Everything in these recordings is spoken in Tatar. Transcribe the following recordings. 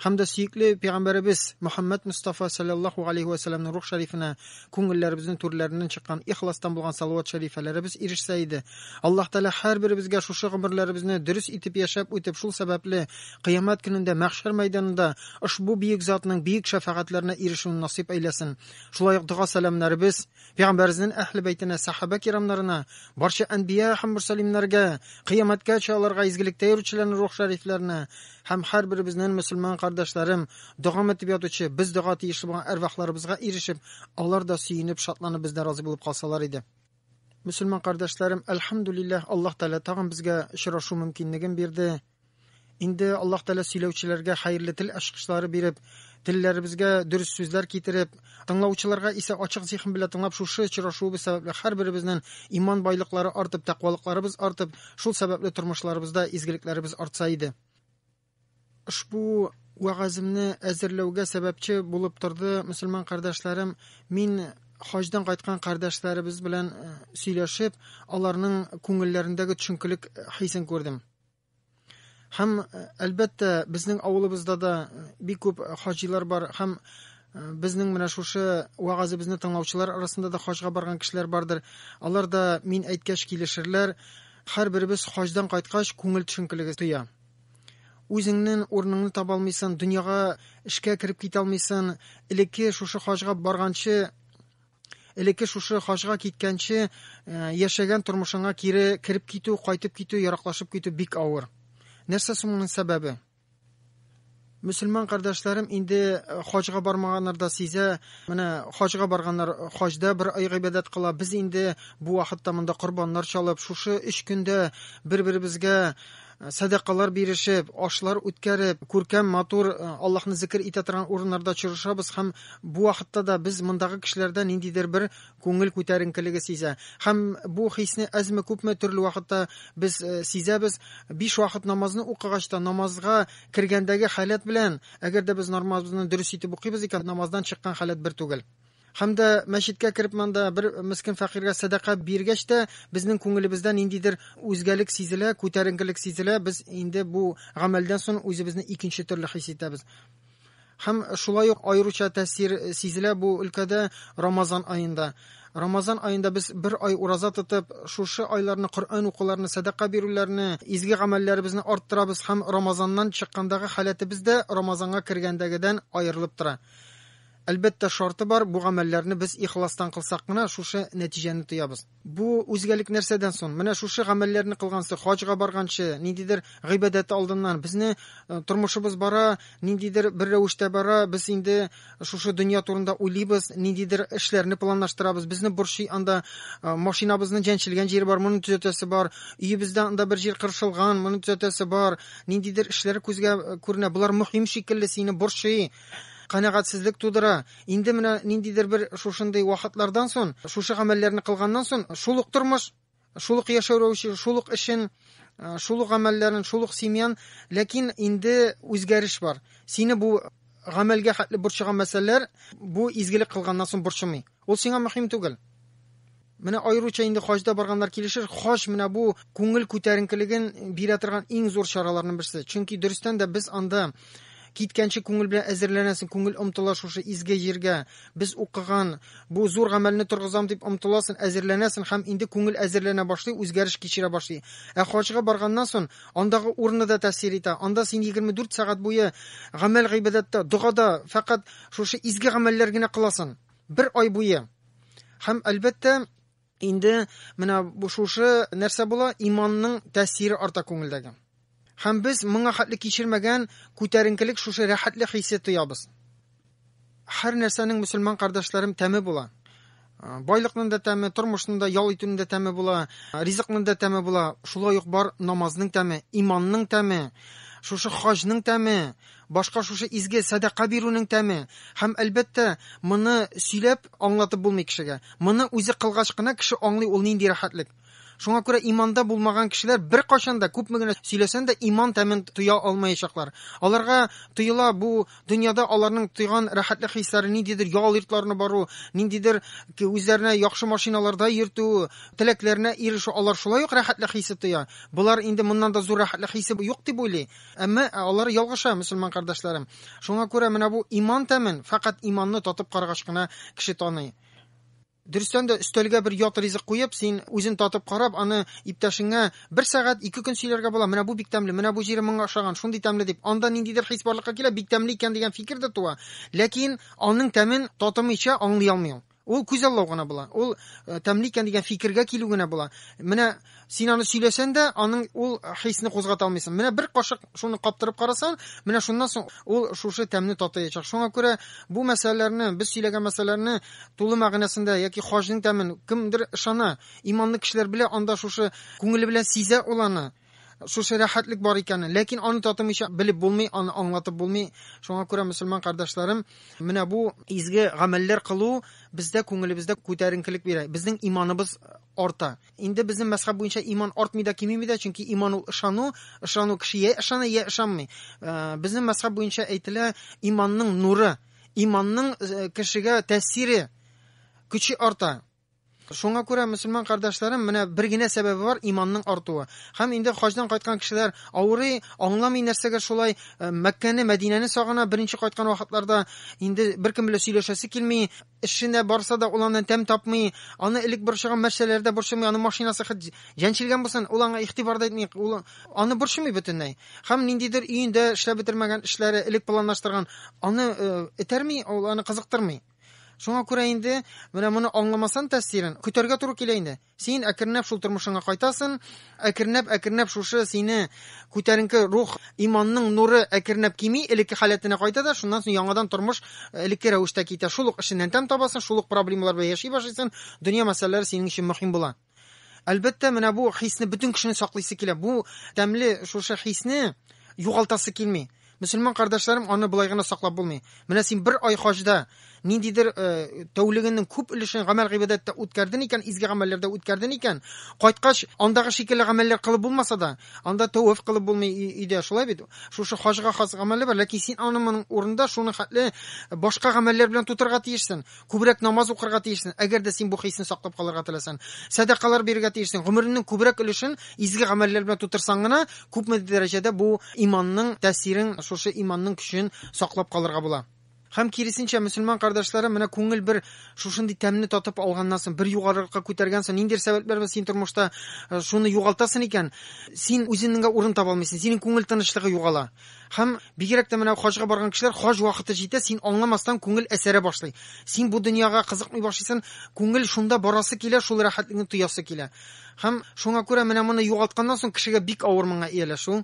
һәм дә сөекле пәйгамбәребез Мөхәммәд Мустафа саллаллаху алейхи ва саллямның рух шәрифенә күңелләребезнең түрләреннән чыккан ихластан булган салават шәрифәләребез ирешсә иде. Аллаһ Тәгалә һәрберебезгә шушы гомерләребезне дөрес итеп яшәп үтеп, шул сәбәпле кыямәт көнендә мәхшәр мәйданында ошбу биек затның биек шәфәгатьләренә ирешүен насыйп әйләсен. Шулай ук дога-сәламнәребез, Пәйгамбәрзнен әһле бәйтенә, сәхабә кирамнарына, барча әнбия һәм мөрсәлимнәргә, кыямәткәчә аларга изгелектә йөрүчеләрнең рух шәрифләренә һәм һәрберебезнен мөселман кардәшләрем, догам итеп ятучы, без дога тиешле булган әрвахларыбызга ирешеп, алар да сөенеп, шатланып бездә разый булып калсалар иде. Мөселман кардәшләрем, әлхәмдүлилләһ, Аллаһ Тәгалә тагын безгә очрашу мөмкинлеген бирде. Инде Аллаһ Тәгалә сөйләүчеләргә хәерле тел ачкычлары биреп, телләребезгә дөрес сүзләр китереп, тыңлаучыларга исә ачык зиһен белән тыңлап шушы очрашуыбыз сәбәпле һәрберебезнең иман байлыклары артып, тәкъвалыкларыбыз артып, шул сәбәпле тормышларыбызда изгелекләребез артса иде. Ошбу вәгаземне әзерләүгә сәбәпче булып торды мөселман кардәшләрем. Мин хаҗдан кайткан кардәшләребез белән э, сөйләшеп, аларның күңелләрендәге төшенкелек хисен күрдем. Һәм әлбәттә, безнең авылыбызда да бик күп хаҗилар бар һәм безнең менә шушы вагазыбызны тыңлаучылар арасында да хаҗга барган кешеләр бардыр. Алар да мин әйткәч килешерләр. Һәрберебез хаҗдан кайткач күңел төшенкелеге тоя. Үзеңнең урыныңны таба алмыйсың, дөньяга эшкә кереп китә алмыйсың. Элекке шушы хаҗга барганчы элекке шушы хаҗга киткәнче э, яшәгән тормышыңа кире кереп китү, кайтып китү, яраклашып китү бик авыр. Нәрсә соң моның сәбәбе? Мөселман кардәшләрем инде э, хаҗга бармаганнар да сизә. Менә хаҗга барганнар, э, хаҗда бер ай гыйбадәт кыла. Без инде бу вакытта монда корбаннар чалып, шушы 3 көндә бер-беребезгә сәдакалар бирешеп, ашлар үткәреп, күркәм, матур э, Аллаһны зикер итә торган урыннарда очрашабыз һәм бу вакытта да без мондагы кешеләрдә ниндидер бер күңел күтәренкелеге сизә. Һәм бу хисне әзме күпме төрле вакытта без э, сизәбез. Биш вакыт намазны укыгач та намазга кергәндәге халәт белән, әгәр дә без намазны дөрес итеп укыйбыз икән, намаздан чыккан халәт бер түгел. Һәм дә мәчеткә кереп монда бер мескин фәкыйрьгә сәдака биргәч тә, безнең күңелебездә ниндидер үзгәлек сизелә, күтәренкелек сизелә, без инде бу гамәлдән соң үзебезне икенче төрле хис итәбез. Һәм шулай ук аеруча тәэсир сизелә бу өлкәдә Рамазан аенда. Рамазан аенда без бер ай ураза тотып, шушы айларны Коръән укуларны, сәдака бирүләрне, изге гамәлләребезне арттырабыз һәм Рамазаннан чыккандагы халәтебез дә Рамазанга кергәндәгедән аерылып тора. Әлбәттә, шарты бар, бу гамәлләрне без ихластан кылсак кына, шушы нәтиҗәне тоябыз. Бу үзгәлек нәрсәдән сон? Менә шушы гамәлләрне кылганчы, хаҗга барганчы, ниндидер гыйбадәт алдыннан, безне э, тормышыбыз бара, ниндидер бер рәвештә бара, без инде шушы дөнья турында уйлыйбыз, ниндидер эшләрне планлаштырабыз, безне борчый анда э, машинабызның җәнчелгән җире бар, моны төзәтәсе бар, өебездә анда бер җир кыршылган, моны төзәтәсе бар, ниндидер эшләр күзгә э, күренә, болар мөһим шикелле сине борчый, канәгатьсезлек тудыра. Инде менә ниндидер бер шушындый вакытлардан сон, шушы гамәлләрне кылганнан сон, шул ук тормыш, шул ук яшәү рәвеше, шул ук эшен, э, шул ук гамәлләрен, шул ук семьян, ләкин инде үзгәреш бар. Сине бу гамәлгә хәтле борчыган мәсьәләләр бу изгелек кылганнан сон борчымый. Ул сиңа мөһим түгел. Менә аеруча инде хаҗда барганнар килешер, хаҗ менә бу күңел күтәренкелеген бирә торган иң зур чараларның берсе. Чөнки дөрестән дә без анда киткәнче күңел белән әзерләнәсең, күңел омтыла шушы изге җиргә, без укыган бу зур гамәлне торгызам дип омтыласың, әзерләнәсең һәм инде күңел әзерләнә башлый, үзгәреш кичерә башлый. Ә хаҗга барганнан сон андагы урыны да тәэсир итә. Анда син 24 сәгать буе гамәл-гыйбадәттә, догада, фәкать шушы изге гамәлләр генә кыласың. Бер ай буе. Һәм әлбәттә, инде менә шушы нәрсә була, иманның тәэсире арта күңелдәге. Һәм без моңа хәтле кичермәгән күтәренкелек шушы рәхәтлек хисе тоябыз. Һәр нәрсәнең мөселман кардәшләрем тәме була. Байлыкның да тәме, тормышның да, ял итүнең дә тәме була, ризыкның да тәме була. Шулай ук бар намазның тәме, иманның тәме, шушы хаҗның тәме, Башка шушы изге сәдака бирүнең тәме. Һәм, әлбәттә, моны сөйләп аңлатып булмый кешегә. Моны үзе кылгач кына кеше аңлый ул нинди рәхәтлек. Шуңа күрә иманда булмаган кешеләр беркайчан да, күпме генә сөйләсән дә, иман тәмен тоя алмаячаклар. Аларга тоела бу дөньяда аларның тойган рәхәтлек хисләре, ниндидер ял йортларына бару, ниндидер үзләренә яхшы машиналарда йөртү, теләкләренә ирешү, алар шулай ук рәхәтлек хисе тоя. Болар инде моннан да зур рәхәтлек хисе юк дип уйлый. Әмма алар ялгыша, мөселман кардәшләрем. Шуңа күрә менә бу иман тәмен фәкать иманны татып карагач кына кеше таный. Дөрестән дә өстәлгә бер ят ризык куеп, син үзен татып карап, аны иптәшеңә бер сәгать, ике көн сөйләргә була, менә бу бик тәмле, менә бу җире моңа ошаган, шундый тәмле дип. Анда ниндидер хис барлыкка килә, бик тәмле икән дигән фикер дә туа. Ләкин аның тәмен татымыйча аңлый алмый ул. Ул күзаллау гына була. Ул тәмле икән дигән фикергә килү генә була. Менә син аны сөйләсән дә, аның ул хисне кузгата алмыйсың. Менә бер кашык шуны каптырып карасаң, менә шуннан соң ул шушы тәмне татыячак. Шуңа күрә бу мәсьәләләрне, без сөйләгән мәсьәләләрне тулы мәгънәсендә яки хаҗның тәмен кемдер ышана, иманлы кешеләр белә, анда шушы күңеле белән сизә ул аны. Шушы рәхәтлек бар икәнен. Ләкин аны татымыйча белеп булмый, аны аңлатып булмый. Шуңа күрә, мөселман кардәшләрем, менә бу изге гамәлләр кылу бездә күңелебездә күтәренкелек бирә. Безнең иманыбыз арта. Инде безнең мәзхәб буенча иман артмый да, кимеми дә, чөнки иман ул ышану, ышану кеше я ышана, я ышанмый. Э, безнең мәзхәб буенча әйтелә, иманның нуры, иманның э, кешегә тәэсире, көче арта. Шуңа күрә, мөселман кардәшләрем, менә бер генә сәбәбе бар, иманның артуы. Һәм инде хаҗдан кайткан кешеләр авырый, аңламый нәрсәгә шулай, э, Мәккәне, Мәдинәне сагына, беренче кайткан вакытларда инде беркем белән сөйләшәсе килми, эшенә барса да ул аннан тәм тапмый, аны элек борчыган мәсьәләләр дә борчымый, аны машинасы хит җәнчелгән булсын, ул аңа игътибар да итми, ул аны борчымый бөтенләй. Һәм ниндидер өендә эшләп бетермәгән эшләре, элек планлаштырган, аны э, этәрми, ул аны кызыктырмый. Шуңа күрә инде, менә моны аңламасан тәфсирен, көтәргә туры килә инде. Син әкренләп шул тормышыңа кайтасын, әкренләп-әкренләп шушы сине күтәренке рух, иманның нуры әкренләп кими, элекке халәтенә кайта да, шуннан соң яңадан тормыш э, элекке рәвештә китә. Шул ук эшеннән тәм табасын, шул ук проблемалар белән яши башлыйсын, дөнья мәсьәләләре синең өчен мөһим була. Әлбәттә, менә бу хисне бөтен кешене саклыйсы килә. Бу тәмле шушы хисне югалтасы килми. Мөселман кардәшләрем, аны былай гына саклап булмый. Менә син бер ай хаҗда ниндидер э, тәүлегенең күп өлешен гамәл гыйбадәттә үткәрден икән, изге гамәлләрдә үткәрден икән, кайткач, андагы шикелле гамәлләр кылып булмаса да, анда тәвәф кылып булмый өйдә, шулай бит? Шушы хаҗга хас гамәле бар, ләкин син аның моның урында шуны хәтле башка гамәлләр белән тутырга тиешсең. Күбрәк намаз укырга тиешсең, әгәр дә син бу хисне саклап калырга теләсән. Сәдакалар бирергә тиешсең. Гомереңнең күбрәк өлешен изге гамәлләр белән тутырсаң гына, күпме дәрәҗәдә бу иманның тәэсирен, шушы иманның көчен саклап калырга була. Һәм киресенчә, мөселман кардәшләрем, менә күңел бер шушындый тәмне татып алганнан соң, бер югарырыкка күтәргәнсең, ниндидер сәбәпләр белән син тормышта э, шуны югалтасың икән, син үзеңненгә урын таба алмыйсың, синең күңел тынычлыгы югала. Һәм бигрәк тә менә хаҗга барган кешеләр хаҗ вакыты җитә, син аңламастан күңел әсәрә башлый. Син бу дөньяга кызыкмый башлыйсын, күңел шунда барасы килә, шул рәхәтлекне тоясы килә. Һәм шуңа күрә менә моны югалтканнан соң кешегә бик авыр моңа ияләшү.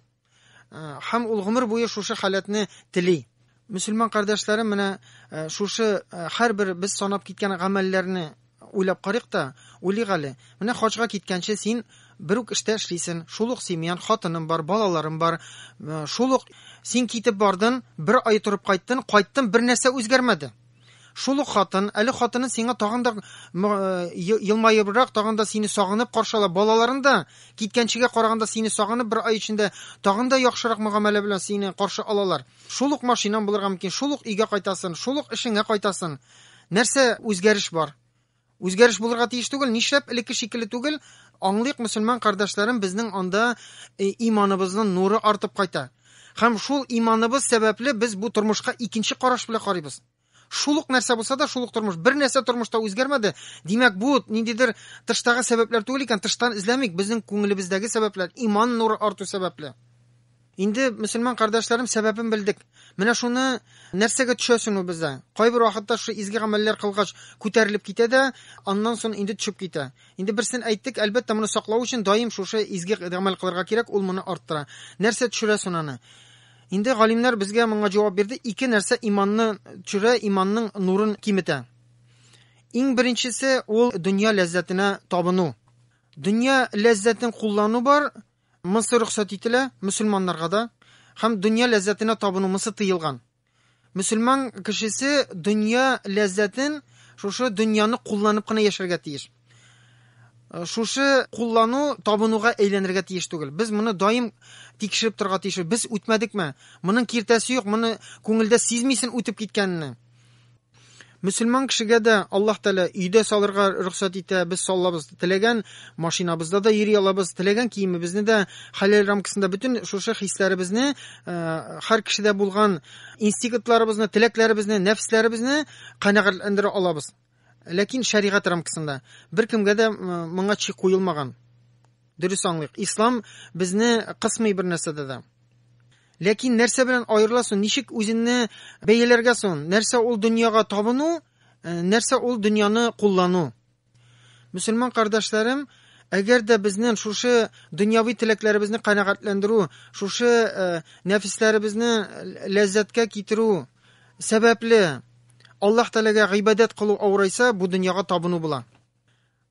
Э, һәм ул гомер буе шушы халәтне тели. Мөселман кардәшләрем менә э, шушы э, һәрбер без санап киткән гамәлләрне Уйлап карыйк та, уйлыйк әле. Менә хаҗга киткәнче син бер үк эштә эшлисен, шул ук семьян, хатының бар, балаларың бар, шул ук син китеп бардың, бер ай торып кайттын, кайттын, бер нәрсә үзгәрмәде. Шул ук хатын, әле хатының сиңа тагын да елмаебрак, тагын да сине сагынып каршала, балаларың да киткәнчегә караганда сине сагынып бер ай эчендә тагын да яхшырак мөгамәлә белән сине каршы алалар. Шул ук машинаң булырга мөмкин, шул ук өйгә кайтасың, шул ук эшеңә кайтасың. Нәрсә үзгәреш бар? Үзгәреш булырга тиеш түгел, нишләп элекке шикелле түгел? Аңлыйк, мөселман кардәшләрем, безнең анда э, иманыбызның нуры артып кайта. Һәм шул иманыбыз сәбәпле без бу тормышка икенче караш белән карыйбыз. Шул ук нәрсә булса да, шул ук тормыш. Бер нәрсә тормышта үзгәрмәде. Димәк, бу ниндидер тыштагы сәбәпләр түгел икән, тыштан эзләмик, безнең күңелебездәге сәбәпләр, иман нуры арту сәбәпле. Инде, мөселман кардәшләрем, сәбәбен белдек. Менә шуны нәрсәгә төшәсең ул бездә? Кайбер вакытта шушы изге гамәлләр кылгач күтәрелеп китә дә, аннан соң инде төшеп китә. Инде берсен әйттек, әлбәттә, моны саклау өчен даим шушы изге гамәл кылырга кирәк, ул моны арттыра. Нәрсә төшерә соң аны? Инде галимнәр безгә моңа җавап бирде, ике нәрсә иманны төшерә, иманның нурын киметә. Иң беренчесе ул дөнья ләззәтенә табыну. Дөнья ләззәтен куллану бар, Мысы рөхсәт ителә, мөселманнарга да, һәм дөнья ләззәтенә табыну, мысы тыелган. Мөселман кешесе дөнья ләззәтен, шушы дөньяны кулланып кына яшәргә тиеш. Шушы куллану табынуга әйләнергә тиеш түгел. Без моны даим тикшереп торырга тиеш. Без үтмәдекме? Моның киртәсе юк, моны күңелдә сизмисен үтеп киткәнне. Мөселман кешегә дә Аллаһ Тәгалә өйдә салырга рөхсәт итә. Без салабыз теләгән машинабызда да йөри алабыз, теләгән киемебезне дә хәләл рамкасында бөтен шушы хисләребезне, һәр кешедә булган инстинктларыбызны, теләкләребезне, нәфесләребезне канәгатьләндерә алабыз. Ләкин шәригать рамкасында. Беркемгә дә моңа чик куелмаган. Дөрес аңлыйк, ислам безне кысмый бер нәрсәдә дә. Ләкин нәрсә белән аерыла соң, ничек үзенне бәяләргә соң? Нәрсә ул дөньяга табыну, э, нәрсә ул дөньяны куллану? Мөселман кардәшләрем, әгәр дә безнең шушы дөньяви теләкләребезне канәгатьләндерү, шушы э, нәфисләребезне ләззәткә китерү сәбәпле Аллаһ Тәгаләгә гыйбадәт кылу авырайса, бу дөньяга табыну була.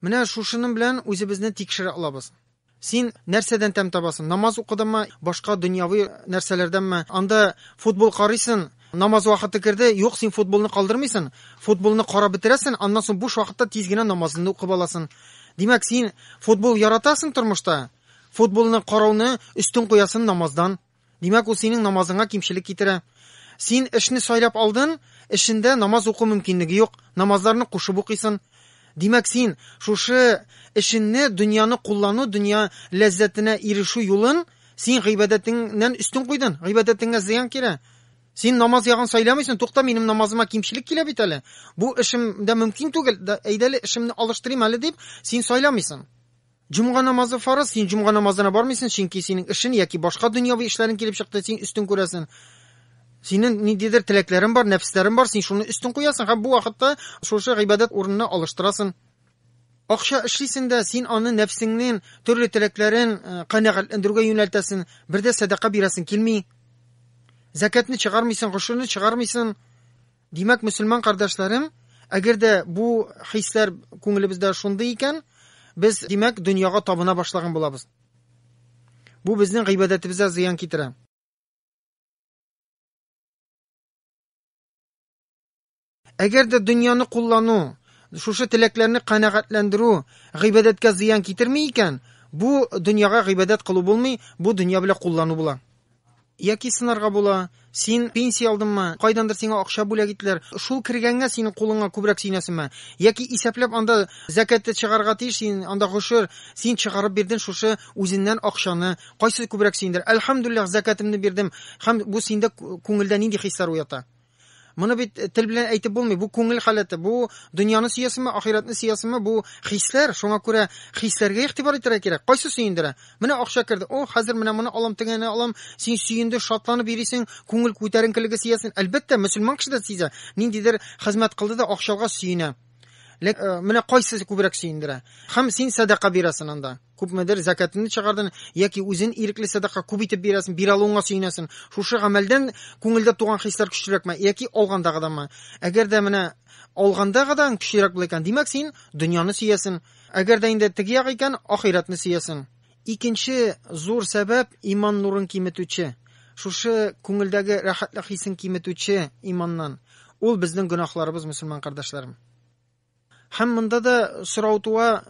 Менә шушының белән үзебезне тикшерә алабыз. Син нәрсәдән тәм табасың? Намаз укыдыңмы, башка дөньяви нәрсәләрдәнме? Анда футбол карыйсың, намаз вакыты керде, юк, син футболны калдырмыйсың, футболны карап бетерәсең, аннан соң буш вакытта тиз генә намазыңны укып аласың. Димәк, син футбол яратасың тормышта, футболны карауны өстен куясың намаздан. Димәк, ул синең намазыңа кимчелек китерә. Син эшне сайлап алдын, эшендә намаз уку мөмкинлеге юк, намазларны кушып укыйсын. Димәк, син шушы эшенне, дөньяны куллану, дөнья ләззәтенә ирешү юлын син гыйбадәтеңнән өстен куйдын, гыйбадәтеңә зыян килә. Син намаз ягын сайламыйсын, тукта, минем намазыма кимчелек килә бит әле. Бу эшем дә мөмкин түгел, әйдәле эшемне алыштырыйм әле дип, син сайламыйсын. Җомга намазы фарыз, син җомга намазына бармыйсын, чөнки синең эшен яки башка дөньяви эшләрең килеп чыкты, син өстен күрәсен. Синең ниндидер теләкләрең бар, нәфесләрең бар, син шуны өстен куясың һәм бу вакытта шушы гыйбадәт урынына алыштырасын. Акча эшлисен дә, син аны нәфсеңнең төрле теләкләрен э, канәгатьләндерүгә юнәлтәсен, бер дә сәдака бирәсен килми. Зәкәтне чыгармыйсын, гошерне чыгармыйсын. Димәк, мөселман кардәшләрем, әгәр дә бу хисләр күңелебездә шундый икән, без, димәк, дөньяга табына башлаган булабыз. Бу безнең гыйбадәтебезгә зыян китерә. Әгәр дә дөньяны куллану, шушы теләкләрне канәгатьләндерү гыйбадәткә зыян китерми икән, бу дөньяга гыйбадәт кылу булмый, бу дөнья белән куллану була. Яки сынарга була, Син пенсия алдыңмы, кайдандыр сиңа акча бүләк иттеләр, шул кергәнгә синең кулыңа күбрәк сөенәсеңме? Яки исәпләп анда зәкәтте чыгарырга тиеш син, анда гошер, син чыгарып бирдең шушы үзеннән акчаны, кайсы күбрәк сөендерә? Әлхәмдүлилләһ, зәкәтемне бирдем, һәм бу синдә күңелдә нинди хисләр уята? Моны бит э, тел белән әйтеп булмый. Бу күңел халәте. Бу дөньяны сөясеңме, ахирәтне сөясеңме? Бу хисләр. Шуңа күрә хисләргә игътибар итәргә кирәк. Кайсы сөендерә? Менә акча керде. О, хәзер менә моны алам, тегене алам. Син сөенде, шатланып йөрисең, күңел күтәренкелеге сөясен. Әлбәттә, мөселман кеше дә сизә. Ниндидер хезмәт кылды да акчага сөенә. Ләк, э, менә кайсы күбрәк сөендерә? Хәм син садака бирәсен анда. күпмедер зәкәтеңне чыгардың яки үзен ирекле сәдака күп итеп бирәсең, бир алуыңа сөенәсең. Шушы гамәлдән күңелдә туган хисләр көчлерәкме яки алгандагыданмы? Әгәр дә менә алгандагыдан көчлерәк була икән, димәк син дөньяны сөясең. Әгәр дә инде теге як икән, ахирәтне сөясең. Икенче зур сәбәп иман нурын киметүче. Шушы күңелдәге рәхәтлек хисен киметүче иманнан. Ул безнең гөнаһларыбыз, мөселман кардәшләрем. Һәм монда да сорау туа,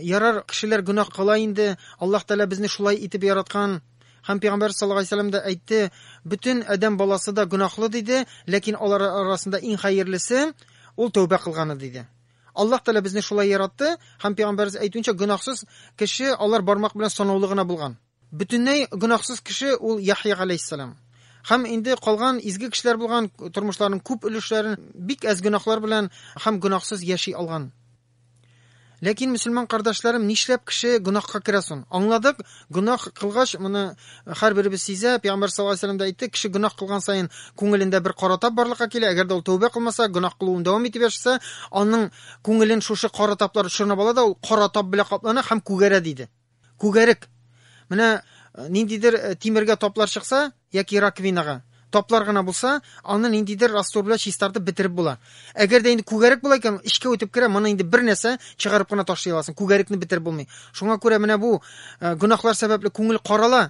ярар, кешеләр гөнаһ кыла инде, Аллаһ Тәгалә безне шулай итеп яраткан, һәм пәйгамбәр саллаллаһу алейһи вәсәлләм дә әйтте, бөтен адәм баласы да гөнаһлы диде, ләкин алар арасында иң хәерлесе ул тәүбә кылганы диде. Аллаһ Тәгалә безне шулай яратты, һәм пәйгамбәребез әйтүенчә, гөнаһсыз кеше алар бармак белән санаулы гына булган. Бөтенләй гөнаһсыз кеше ул Яхъя галәйһиссәлам. Һәм инде калган изге кешеләр булган тормышларының күп өлешләрен бик әз гөнаһлар белән һәм гөнаһсыз яши алган. Ләкин, мөселман кардәшләрем, нишләп кеше гөнаһка керә сон? Аңладык, гөнаһ кылгач, моны һәрберебез сизә, Пәйгамбәр саллаллаһу алейһи ва да әйтте, кеше гөнаһ кылган саен күңелендә бер кара тап барлыкка килә, әгәр дә ул тәүбә кылмаса, гөнаһ кылуын дәвам итеп яшәсә, аның күңелен шушы кара таплар чорнап ала да ул кара тап белән каплана һәм күгәрә, диде. Күгәрек. Менә э, ниндидер э, тимергә таплар чыкса, яки раковинага, таплар гына булса, аны ниндидер раствор белән чистартып бетереп була. Әгәр дә инде күгәрек була икән, эчкә үтеп керә, моны инде бер нәрсә чыгарып кына ташлый аласың. Күгәрекне бетереп булмый. Шуңа күрә менә бу э, гөнаһлар сәбәпле күңел карала,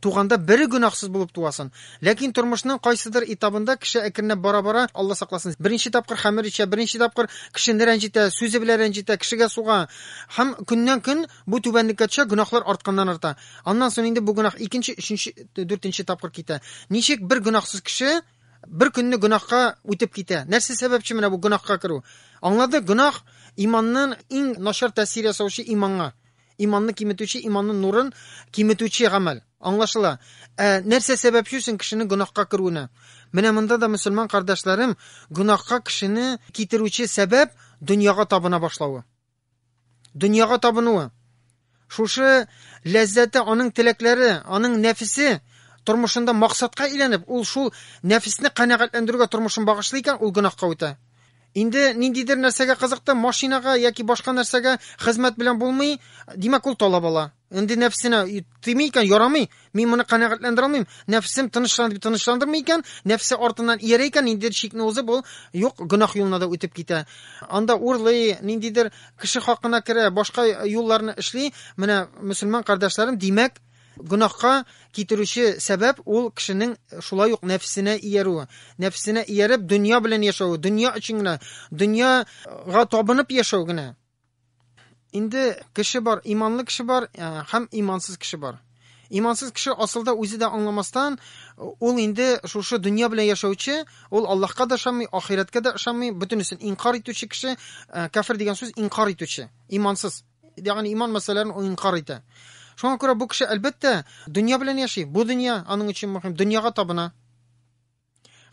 Туганда бере гөнаһсыз булып туасын. Ләкин тормышның кайсыдыр этабында кеше әкренләп бара-бара, Алла сакласын, беренче тапкыр хәмер эчә, беренче тапкыр кешене рәнҗетә, сүзе белән рәнҗетә, кешегә суга. Һәм көннән-көн бу түбәнлеккә төшә, гөнаһлар артканнан-арта. Аннан соң инде бу гөнаһ икенче, өченче, дүртенче тапкыр китә. Ничек бер гөнаһсыз кеше бер көнне гөнаһка үтеп китә? Нәрсә сәбәпче менә бу гөнаһка керү? Аңладык, гөнаһ иманнан иң начар тәэсир ясаучы иманга. Иманны киметүче, иманның нурын киметүче гамәл. Аңлашыла. Ә нәрсә сәбәпче соң кешенең гөнаһка керүенә? Менә монда да, мөселман кардәшләрем, гөнаһка кешене китерүче сәбәп дөньяга табына башлавы. Дөньяга табынуы. Шушы ләззәте, аның теләкләре, аның нәфесе тормышында максатка әйләнеп, ул шул нәфесне канәгатьләндерүгә тормышын багышлый икән, ул гөнаһка үтә. Инде ниндидер нәрсәгә кызыкты, машинага яки башка нәрсәгә хезмәт белән булмый, димәк ул талап ала. Инде нәфсенә тими икән, ярамый, мин моны канәгатьләндерә алмыйм, нәфсем тынычлан дип тынычландырмый икән, нәфсе артыннан иярә икән, инде чикне узып ул юк гөнаһ юлына да үтеп китә. Анда урлый, ниндидер кеше хакына керә, башка юлларны эшли. Менә мөселман кардәшләрем, димәк, Гөнаһка китерүче сәбәп, ул кешенең шулай ук нәфесенә иярүе. Нәфесенә ияреп, дөнья белән яшәве, дөнья өчен генә, дөньяга табынып яшәү генә. Инде кеше бар, иманлы кеше бар э, һәм имансыз кеше бар. Имансыз кеше асылда үзе дә аңламастан, ул инде шушы дөнья белән яшәүче, ул Аллаһка да ышанмый, ахирәткә дә ышанмый, бөтенесен инкар итүче кеше, э, кафир дигән сүз инкар итүче, имансыз. Ягъни иман мәсьәләләрен ул инкар итә. Шуңа күрә бу кеше, әлбәттә, дөнья белән яши. Бу дөнья аның өчен мөһим, дөньяга табына.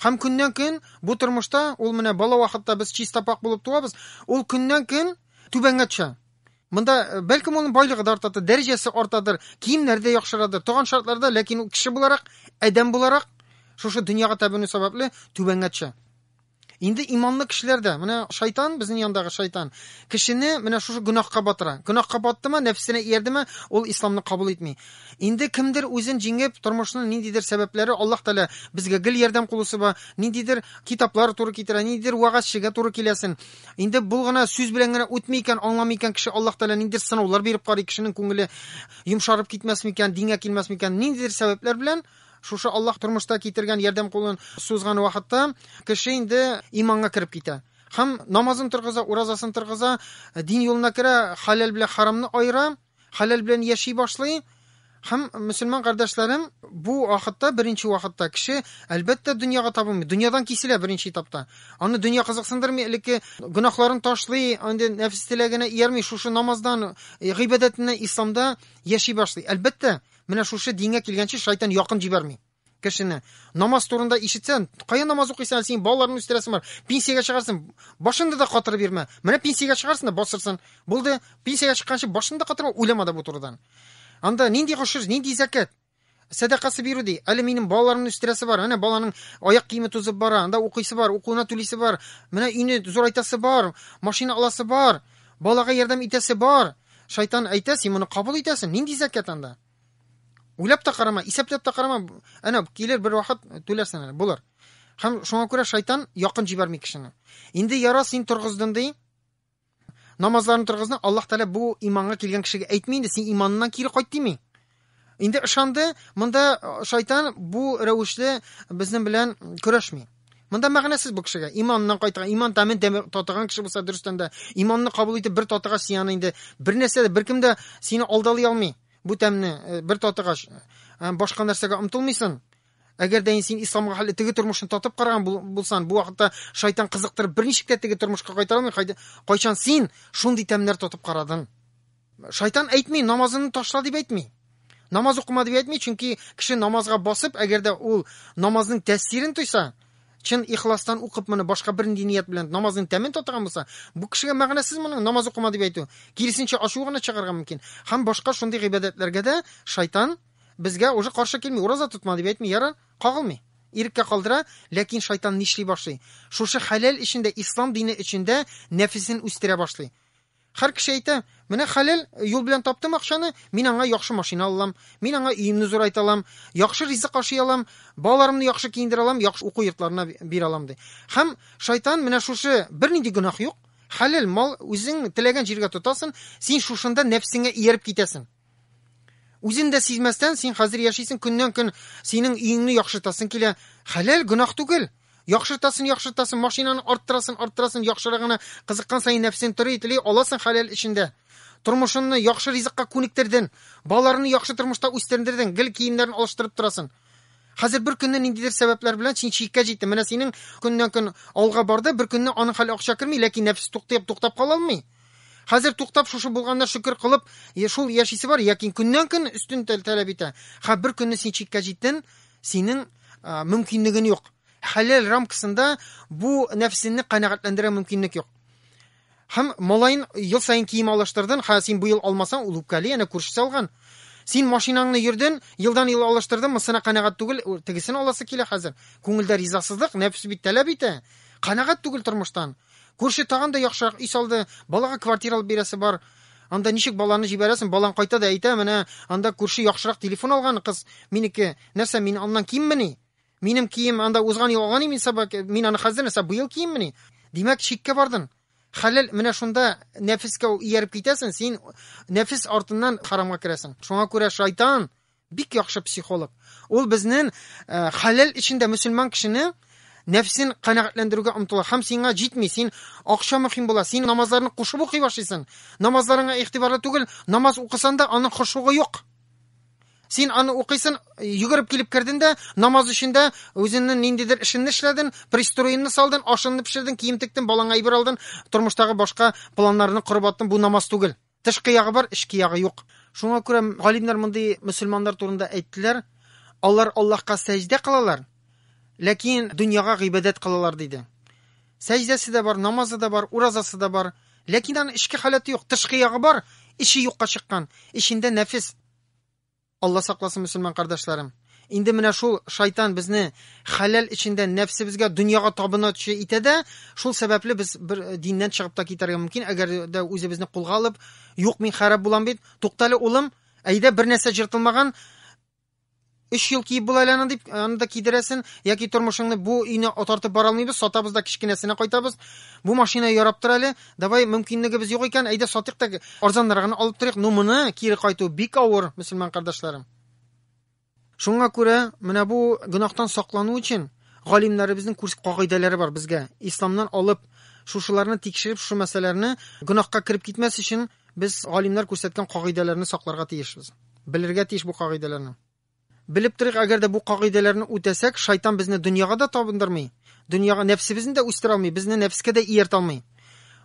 Һәм көннән-көн бу тормышта ул менә бала вакытта без чиста пак булып туабыз, ул көннән-көн түбәнгә төшә. Монда э, бәлкем аның байлыгы да артадыр, дәрәҗәсе артадыр, киемнәре дә яхшырадыр, туган шартларда, ләкин ул кеше буларак, адәм буларак шушы дөньяга табыну сәбәпле түбәнгә төшә. Инде иманлы кешеләр дә, менә шайтан, безнең яндагы шайтан, кешене менә шушы гөнаһка батыра. Гөнаһка баттымы, нәфсенә иярдеме, ул исламны кабул итми. Инде кемдер үзен җиңеп, тормышның ниндидер сәбәпләре Аллаһ Тәгалә безгә гел ярдәм кулы суза, ниндидер китаплар туры китерә, ниндидер вәгазьчегә туры киләсен. Инде бул гына сүз белән генә үтми икән, аңламый икән кеше Аллаһ Тәгалә ниндидер сынаулар биреп карый, кешенең күңеле йомшарып китмәсме икән, дингә килмәсме икән, ниндидер сәбәпләр белән Шушы Аллаһ тормышта китергән ярдәм кулын сузган вакытта кеше инде иманга кереп китә. Һәм намазын торгыза, уразасын торгыза, дин юлына керә, халәл белән харамны аера, халәл белән яши башлый. Һәм мөселман кардәшләрем, бу вакытта, беренче вакытта кеше, әлбәттә, дөньяга табынмый. Дөньядан киселә беренче этапта. Аны дөнья кызыксындырмый, элекке гөнаһларын ташлый, инде нәфес теләгенә иярми, шушы намаздан, гыйбадәтеннән, исламда яши башлый. Әлбәттә, Менә шушы дингә килгәнче шайтан якын җибәрми кешене. Намаз турында ишетсән, кая намаз укыйсың, әле синең балаларны үстерәсең бар. Пенсиягә чыгарсың, башыңны да катырып бирмә. Менә пенсиягә чыгарсың да басырсың. Булды, пенсиягә чыкканчы башыңны да катырма, уйлама да бу турыдан. Анда нинди гошер, нинди зәкәт? Сәдакасы бирү ди. Әле минем балаларымны үстерәсе бар. Менә баланың аяк киеме тузып бара, анда укыйсы бар, укуына түлисе бар. Менә өйне зурайтасы бар, машина аласы бар, балага ярдәм итәсе бар. Шайтан әйтә, син моны кабул итәсең, нинди зәкят анда? Уйлап та карама, исәпләп тә карама, әнә килер бер вакыт түләрсең әле, булыр. Һәм шуңа күрә шайтан якын җибәрми кешене. Инде яра син торгыздың ди. Намазларын торгызны Аллаһ Тәгалә бу иманга килгән кешегә әйтми инде, син иманнан кире кайт дими. Инде ышанды, монда э, шайтан бу рәвешле безнең белән көрәшми. Монда мәгънәсез бу кешегә. Иманнан кайтырга, иман тәмен татыган кеше булса дөрестән дә, иманны кабул итеп бер татыга сиян инде. Бер нәрсә дә, беркем дә сине алдалый алмый. Бу тәмне э, бер татыгач, э, башка нәрсәгә омтылмыйсың. Әгәр дә син исламга хәлле теге тормышны татып караган булсан, бу вакытта шайтан кызыктырып берничек тә теге тормышка кайтара алмый. Кайчан син шундый тәмнәр татып карадың? Шайтан әйтми, намазыңны ташла дип әйтми. Намаз укыма дип әйтми, чөнки кеше намазга басып, әгәр дә ул намазның тәэсирен тойса, чын ихластан укып моны башка бернинди ният белән намазның тәмен татыган булса, бу кешегә мәгънәсез моның намаз укыма дип әйтү. Киресенчә ачу гына чыгарга мөмкин. Һәм башка шундый гыйбадәтләргә дә шайтан безгә уже каршы килми, ураза тотма дип әйтми, яра, кагылмый. Иреккә калдыра, ләкин шайтан нишли башлый? Шушы хәләл эчендә, ислам дине эчендә нәфесен үстерә башлый. Хәр кеше әйтә, Менә хәләл юл белән таптым акчаны, мин аңа яхшы машина алалам, мин аңа өемне зурайта алам, яхшы ризык ашый алам, балаларымны яхшы киендерә алам, яхшы уку йортларына бирә алам, ди. Һәм Шайтан менә шушы, бернинди гөнаһ юк, хәләл мал үзең теләгән җиргә тотасың, син шушында нәфсеңә ияреп китәсең. Үзен дә сизмәстән, син хәзер яшисең, көннән-көн синең өеңне яхшыртасың килә. Хәләл, гөнаһ түгел. Яхшыртасын, яхшыртасын, машинаны арттырасын, арттырасын, яхшырагына кызыккан саен нәфсең тори, тели, аласың хәләл эчендә. Тормышыңны яхшы ризыкка күнектердең, балаларны яхшы тормышта үстердең, гел киемнәрен алыштырып торасын. Хәзер бер көнне ниндидер сәбәпләр белән син чиккә җиттең. Менә синең көннән-көн алга барды, бер көнне аның хәле акча керми, ләкин нәфс туктап, туктап кала алмый. Хәзер туктап шушы булганына шөкер кылып, шул яшисе бар, ләкин көннән-көн өстен таләп итә. Ха, бер көнне син чиккә җиттен, синең мөмкинлеген юк. Хәләл рамкасында бу нәфсенне канәгатьләндерә мөмкинлек юк. Һәм малаен ел саен кием алыштырдын, ха син бу ел алмасаң, ул үпкәли, әнә күршесе алган. Син машинаңны йөрден, елдан ел алыштырдын, мысына канәгать түгел, тегесен аласы килә хәзер. Күңелдә ризасызлык, нәфс бит таләп итә. Канәгать түгел тормыштан. Күрше тагын да яхшырак өй салды, балага квартира алып бирәсе бар. Анда ничек баланы җибәрәсең, балаң кайта да әйтә, менә анда күрше яхшырак телефон алган, кыз, минеке, нәрсә, мин аннан киммени? Минем кием анда узган ел алган имин саба, мин аны хәзер нәрсә, быел киеммени? Димәк, чиккә бардың. Хәләл, менә шунда нәфескә ияреп китәсең, син нәфес артыннан харамга керәсең. Шуңа күрә шайтан Бик яхшы психолог. Ул безнен хәләл эчендә мөселман кешене нәфсен канәгатьләндерүгә омтыла. Хәм сиңа җитми, син акча мөһим була, син намазларны кушып укый башлыйсың. Намазларыңа игътибарлы түгел, намаз укысан да аның хошугы юк. Син аны укыйсын, йөгереп килеп керден дә, намаз эчендә үзеңнең ниндидер эшеңне эшләден, пристроенны салдын, ашыңны пешерден, кием тектен, балаңа әйбер алдын, тормыштагы башка планнарны корып аттын, бу намаз түгел. Тышкы ягы бар, эчке ягы юк. Шуңа күрә галимнәр мондый мөселманнар турында әйттеләр, алар Аллаһка сәҗдә кылалар, ләкин дөньяга гыйбадәт кылалар диде. Сәҗдәсе дә бар, намазы да бар, уразасы да бар, ләкин аның эчке халәте юк, тышкы ягы бар, эче юкка чыккан, эчендә нәфес. Алла сакласын мөселман кардәшләрем. Инде менә шул шайтан безне хәләл эчендә нәфсебезгә, дөньяга табынучы итә дә, шул сәбәпле без бер диннән чыгып та китәргә мөмкин, әгәр дә үзебезне кулга алып, юк мин хәрәп булам бит. Туктале улым, әйдә бер нәрсә җыртылмаган, өч ел киеп була әле аны дип аны да кидерәсен яки тормышыңны бу өйне отартып бара алмыйбыз сатабыз да кечкенәсенә кайтабыз бу машина ярап тор әле Давай, мөмкинлегебез юк икән, әйдә сатыйк та арзаннар гына алып торыйк. Ну моны кире кайту бик авыр, мөселман кардәшләрем. Шуңа күрә менә бу гөнаһтан саклану өчен галимнәребезнең күрс кагыйдәләре бар безгә. Исламнан алып шушыларны тикшереп, шушы мәсьәләләрне гөнаһка кереп китмәс өчен без галимнәр күрсәткән кагыйдәләрне сакларга тиешбез. Белергә тиеш бу кагыйдәләрне. Белеп торыйк, әгәр дә бу кагыйдәләрне үтәсәк, шайтан безне дөньяга да табындырмый, дөньяга нәфсебезне дә үстерә алмый, безне нәфескә дә ияртә алмый.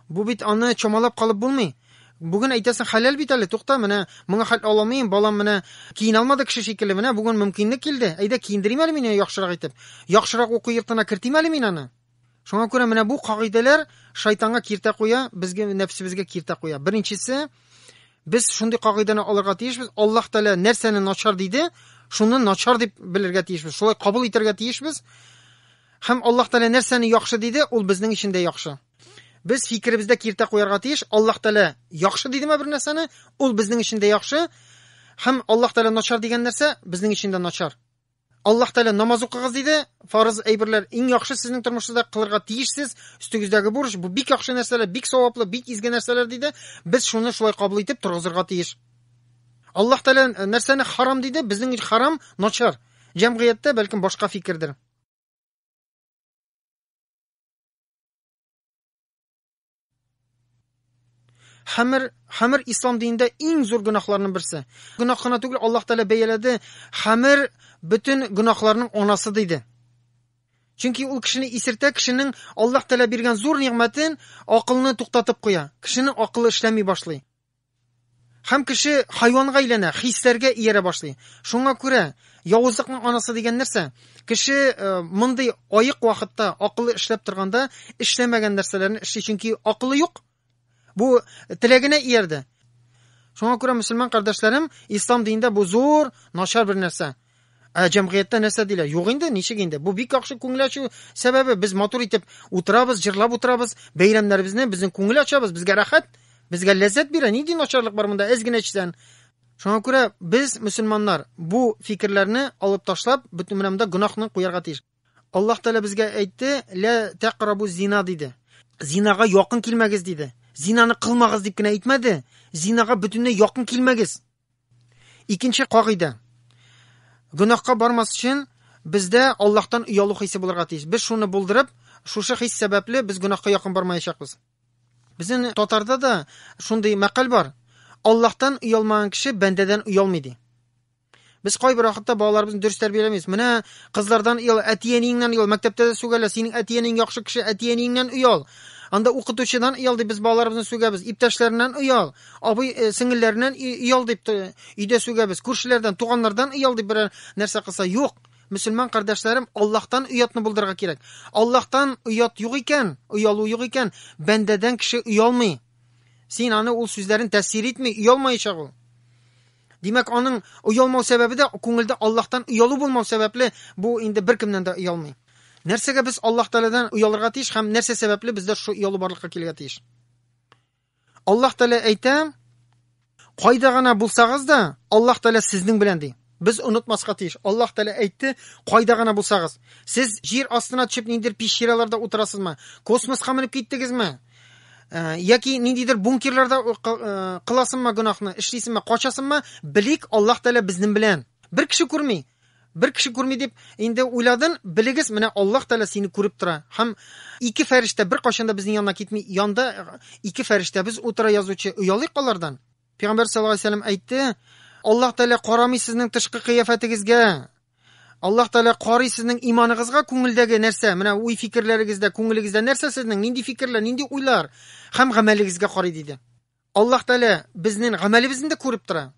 Бу бит аны чамалап калып булмый. Бүген әйтәсең, хәләл бит әле, тукта, менә моңа хәл аламыйм, балам менә киенә алмады кеше шикелле, менә бүген мөмкинлек килде, әйдә киендерим әле мин яхшырак итеп, яхшырак уку йортына кертим әле мин аны. Шуңа күрә менә бу кагыйдәләр шайтанга киртә куя, безгә нәфсебезгә киртә куя. Беренчесе, без шундый кагыйдәне алырга тиешбез. Аллаһ Тәгалә нәрсәне начар диде, шуны начар дип белергә тиешбез. Шулай кабул итәргә тиешбез. Һәм Аллаһ Тәгалә нәрсәне яхшы диде, ул безнең өчен дә яхшы. Без фикеребездә киртә куярга тиеш. Аллаһ Тәгалә яхшы дидеме бер нәрсәне, ул безнең өчен дә яхшы. Һәм Аллаһ Тәгалә начар дигән нәрсә безнең өчен дә начар. Аллаһ Тәгалә намаз укыгыз диде. Фарыз әйберләр иң яхшы сезнең тормышыгызда кылырга тиешсез. Өстегездәге бурыч бу бик яхшы нәрсәләр, бик саваплы, бик изге нәрсәләр диде. Без шуны шулай кабул итеп торгызырга тиеш. Аллаһ Тәгалә э, нәрсәне харам диде? Безнең өчен харам начар. Җәмгыятьтә бәлкем башка фикердер. Хамр, хамр ислам динендә иң зур гөнаһларның берсе. Гөнаһ кына түгел, Аллаһ Тәгалә бәяләде, хамр бөтен гөнаһларның анасы диде. Чөнки ул кешене исертә, кешенең Аллаһ Тәгалә биргән зур нигъмәтен, акылны туктатып куя. Кешенең акылы эшләми башлый. Һәм кеше хайванга әйләнә, хисләргә иярә башлый. Шуңа күрә явызлыкның анасы дигән нәрсә? Кеше э, мондый аек вакытта акылы эшләп торганда эшләмәгән нәрсәләрне эшли, чөнки акылы юк. Бу теләгенә иярде. Шуңа күрә мөселман кардәшләрем, ислам динендә бу зур начар бер нәрсә. Ә җәмгыятьтә нәрсә диләр? Юк инде, ничек инде? Бу бик яхшы күңел ачу сәбәбе. Без матур итеп утырабыз, җырлап утырабыз, бәйрәмнәребезне, безнең күңел ачабыз, безгә рәхәт, безгә ләззәт бирә. Нинди начарлык бар монда? Әз генә эчсән. Шуңа күрә без, мөселманнар, бу фикерләрне алып ташлап, бөтен менә монда гөнаһны куярга тиеш. Аллаһ Тәгалә безгә әйтте, "Лә тәкърабу зина" диде. Зинага якын килмәгез диде. Зинаны кылмагыз дип кенә әйтмәде. Зинага бөтенләй якын килмәгез. Икенче кагыйдә. Гөнаһка бармас өчен бездә Аллаһтан оялу хисе булырга тиеш. Без шуны булдырып, шушы хис сәбәпле без гөнаһка якын бармаячакбыз. Безнең татарда да шундый мәкаль бар. Аллаһтан оялмаган кеше бәндәдән оялмый ди. Без кайбер вакытта балаларыбызны дөрес тәрбияләмибез. Менә кызлардан оял, әти-әниеңнән оял, мәктәптә дә сүгәлә, синең әти-әниең яхшы кеше, әти-әниеңнән оял. Анда укытучыдан оял дип без балаларыбызны сүгәбез, иптәшләреннән оял. Абый э, сеңелләреннән иял дип өйдә сүгәбез. Күршеләрдән, туганнардан иял дип берәр нәрсә кылса, юк. Мөселман кардәшләрем, Аллаһтан оятны булдырырга кирәк. Аллаһтан оят юк икән, оялу юк икән, бәндәдән кеше оялмый. Син аны ул сүзләрен тәсир итми, оялмаячак ул. Димәк, аның оялмау сәбәбе дә күңелдә Аллаһтан оялу булмау сәбәпле, бу инде беркемнән дә оялмый. Нәрсәгә без Аллаһ Тәгаләдән оялырга тиеш һәм нәрсә сәбәпле бездә шул оялу барлыкка килергә тиеш? Аллаһ Тәгалә әйтә, кайда гына булсагыз да, Аллаһ Тәгалә сезнең белән ди. Без онытмаска тиеш. Аллаһ Тәгалә әйтте, кайда гына булсагыз, сез җир астына төшеп ниндидер пещераларда утырасызмы? Космоска менеп киттегезме? Э, яки ниндидер бункерларда э, э, кыласыңмы гөнаһны, эшлисеңме, качасыңмы? Белик, Аллаһ Тәгалә безнең белән. Бер кеше күрми. Бер кеше күрми дип инде уйладын, белегез, менә Аллаһ Тәгалә сине күреп тора һәм ике фәрештә беркайчан да безнең янына китми, янда ике фәрештәбез утыра язучы, оялыйк алардан. Пәйгамбәр саллаллаһу алейһи ва сәлләм әйтте, Аллаһ Тәгалә карамый сезнең тышкы кыяфәтегезгә, Аллаһ Тәгалә карый сезнең иманыгызга, күңелдәге нәрсә, менә уй-фикерләрегездә, күңелегездә нәрсә сезнең, нинди фикерләр, нинди уйлар һәм гамәлегезгә карый, диде. Аллаһ Тәгалә безнең гамәлебезне дә күреп тора.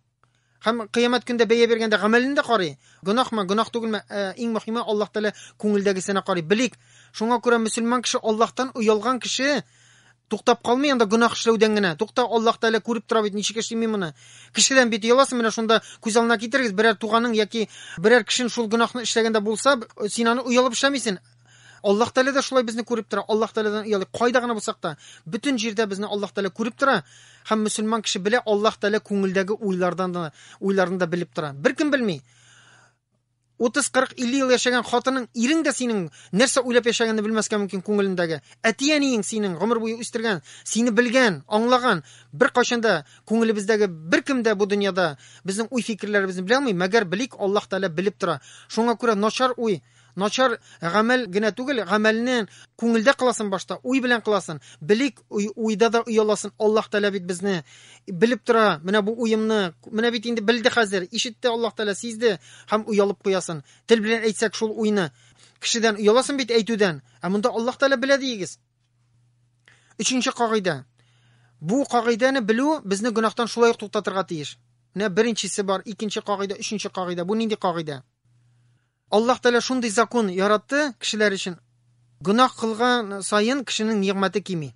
Һәм кыямәт көндә бәя биргәндә гамәлен дә карый. Гөнаһмы, гөнаһ түгелме, э, иң мөһиме Аллаһ Тәгалә күңелдәгесенә карый. Белик, шуңа күрә мөселман кеше Аллаһтан оялган кеше туктап калмый анда гөнаһ эшләүдән генә. Тукта, Аллаһ Тәгалә күреп тора бит, ничек эшли мин моны. Кешедән бит яласың, менә шунда күз алдына китерегез, берәр туганың яки берәр кешен шул гөнаһны эшләгәндә булса, син аны оялып эшләмисең. Аллаһ Тәгалә дә шулай безне күреп тора. Аллаһ Тәгаләдән оялыйк. Кайда гына булсак та, бөтен җирдә безне Аллаһ Тәгалә күреп тора. Һәм мөселман кеше белә, Аллаһ Тәгалә күңелдәге уйлардан да, уйларны да белеп тора. Беркем белми. 30, 40, 50 ел яшәгән хатының, ирең дә синең нәрсә уйлап яшәгәнне белмәскә мөмкин күңелендәге. Әти-әниең синең гомер буе үстергән, сине белгән, аңлаган, бер кайчан да күңелебездәге беркем дә бу дөньяда безнең уй-фикерләребезне белә алмый, мәгәр белик, Аллаһ Тәгалә белеп тора. Шуңа күрә начар уй Начар гамәл генә түгел, гамәлне күңелдә кыласын башта, уй белән кыласын. Белик, уйда да ояласын. Аллаһ Тәгалә бит безне белеп тора. Менә бу уемны, менә бит инде белде хәзер, ишетте Аллаһ Тәгалә, сизде һәм оялып куясын. Тел белән әйтсәк шул уйны. Кешедән ояласын бит әйтүдән. Ә монда Аллаһ Тәгалә белә диегез. Өченче кагыйдә. Бу кагыйдәне белү безне гөнаһтан шулай ук туктатырга тиеш. Менә беренчесе бар, икенче кагыйдә, өченче кагыйдә. Бу нинди кагыйдә? Аллаһ Тәгалә шундый закон яратты кешеләр өчен, гөнаһ кылган саен кешенең нигъмәте кими.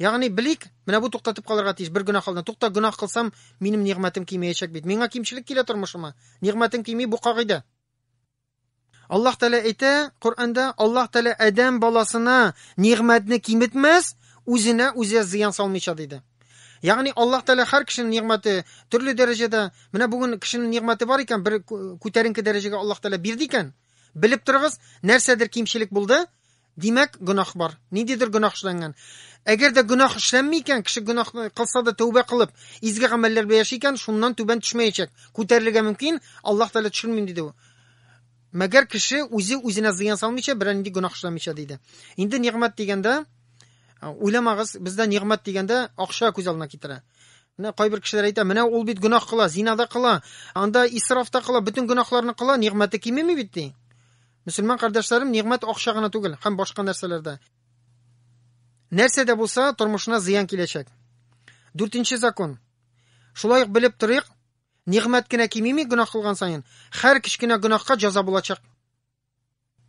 Ягъни, белик, менә бу туктатып калырга тиеш, бер гөнаһ алдына. Тукта, гөнаһ кылсам, минем нигъмәтем кимеячәк бит. Миңа кимчелек килә тормышыма. Нигъмәтем кими, бу кагыйдә. Аллаһ Тәгалә әйтә Коръәндә, Аллаһ Тәгалә адәм баласына нигъмәтне киметмәс, үзенә үзе зыян салмыйча диде. Ягъни Аллаһ Тәгалә һәр кешенең нигъмәте төрле дәрәҗәдә. Менә бүген кешенең нигъмәте бар икән, бер күтәренке дәрәҗәгә Аллаһ Тәгалә бирде икән. Белеп торыгыз, нәрсәдер кимчелек булды, димәк, гөнаһ бар. Ниндидер гөнаһ эшләнгән. Әгәр дә гөнаһ эшләнми икән, кеше гөнаһ кылса да тәүбә кылып, изге гамәлләр белән яши икән, шуннан түбән төшмәячәк. Күтәрелергә мөмкин, Аллаһ Тәгалә төшермим диде. Мәгәр кеше үзе үзенә зыян салмыйча, берәр нинди гөнаһ эшләмичә диде. Инде нигъмәт дигәндә, уйламагыз, бездә нигъмәт дигәндә акча күз алдына китерә. Менә кайбер кешеләр әйтә, менә ул бит гөнаһ кыла, зина да кыла, анда исраф та кыла, бөтен гөнаһларны кыла, нигъмәте кимеми бит ди. Мөселман кардәшләрем, нигъмәт акча гына түгел, һәм башка нәрсәләрдә. Нәрсә дә булса, тормышына зыян киләчәк. Дүртенче закон. Шулай ук белеп торыйк, Нигъмәт кенә кимими гөнаһ кылган саен, хәр кечкенә гөнаһка җәза булачак.